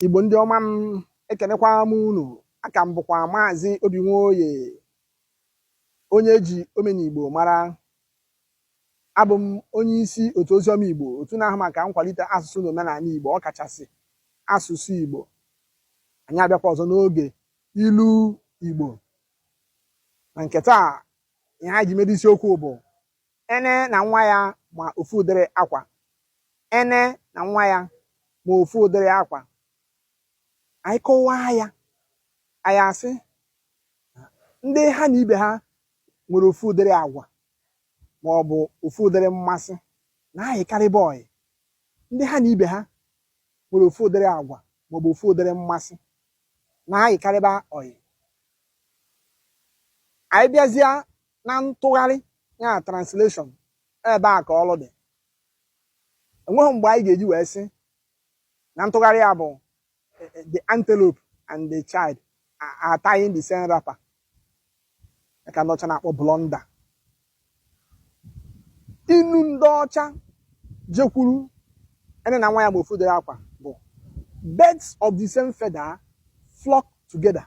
Igbo ndị ọma m ekenekwa m unu aha m bụkwa maazị Obinwoye onye e ji omenigbo mara abụ m onye isi otu oziọma Igbo otu na-ahụ maka nkwalite asụsụ na omenala Igbo ọkachasị asụsụ Igbo anyị abịakwa ọzọ n'oge ilu Igbo na nke taa ihe anyị ji mere isiokwu bụ Ene na nwa ya ma ofu ụdịrị akwa. Ene na nwa ya ma ofu ụdịrị akwa. Anyị kọwaa ya, anyị asị ndị ha na ibe ha nwere ofu ụdịrị agwa ma ọ bụ ofu ụdịrị mmasị na-ayịkarịba ọyị. Ndị ha na ibe ha nwere ofu ụdịrị agwa ma ọ bụ ofu ụdịrị mmasị na-ayịkarịba ọyị. Anyị bịazịa na ntụgharị ya translation ebe a ka ọlụ dị o nweghị mgbe anyị ga-eji wee sị na ntụgharị ya bụ eh, eh, the antelope and the child are tying the same wrapper ka ndị ọcha na-akpọ blunder inu ndị ọcha ji ekwuru ene na nwa ya ma ofu ụdịrị akwa bụ birds of the same feather flock together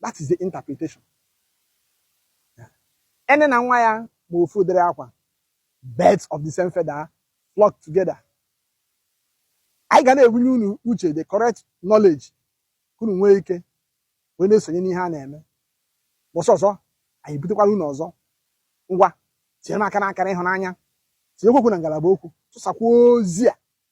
that is the interpretation ene na nwa ya ma ofu ụdịrị akwa birds of the same feather flock together anyị ga na-ebunye unu uche the correct knowledge ka unu nwee ike wee na-esonye n'ihe a na-eme ụbọsị ọzọ anyị butekwara unu ọzọ ngwa tinyere m aka n'akara ịhụnanya tinyekwuo okwu na ngalaba okwu tụsakwa ozi a